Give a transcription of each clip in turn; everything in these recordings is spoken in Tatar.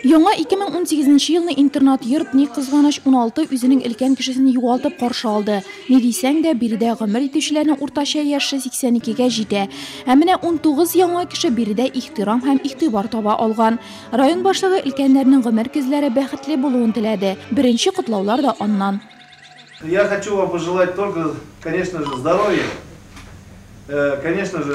Яңа 2018 нче елны интернат-йорт, ни кызганыч, 16 үзенең өлкән кешесен югалтып каршы алды. Ни дисәң дә, биредә гомер итүчеләрнең уртача яше 82 гә җитә. Ә менә 19 яңа кеше биредә ихтирам һәм игътибар таба алган. Район башлыгы өлкәннәрнең гомер көзләре бәхетле булуын теләде. Беренче котлаулар да аннан. Я хочу вам пожелать только, конечно же, здоровья, конечно же.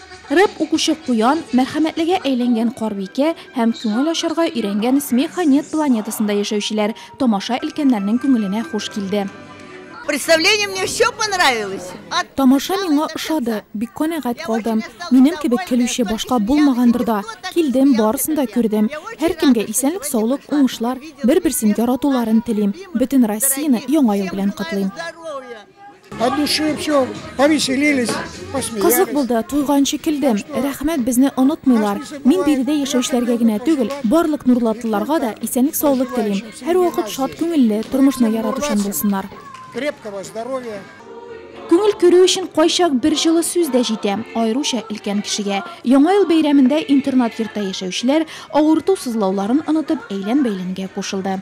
Рэп укучы Куян, мәрхәмәтлегә әйләнгән Карбикә һәм күңел ачарга өйрәнгән Смеха нет планетасында яшәүчеләр тамаша өлкәннәрнең күңеленә хуш килде. Представление мне все понравилось. Тамаша миңа ошады, бик канәгать калдым. Минем кебек көлүче башка булмагандыр да. Килдем, барысын да күрдем. Һәркемгә исәнлек-саулык, уңышлар, бер-берсен яратуларын телим. Бөтен Россияне Яңа ел белән котлыйм. От души все, повеселились, посмеялись. Кызык булды, туйганчы килдем. Рәхмәт, безне онытмыйлар. Мин биредә яшәүчеләргә генә түгел, барлык нурлатлыларга да исәнлек саулык телим. Һәрвакыт шат күңелле, тормышны яратучан булсыннар. Крепкого здоровья. Күңел күрү өчен кайчак бер җылы сүз дә җитә, аеруча өлкән кешегә. Яңа ел бәйрәмендә интернат йортта яшәүчеләр, авырту-сызлауларын онытып, әйлән-бәйләнгә кушылды.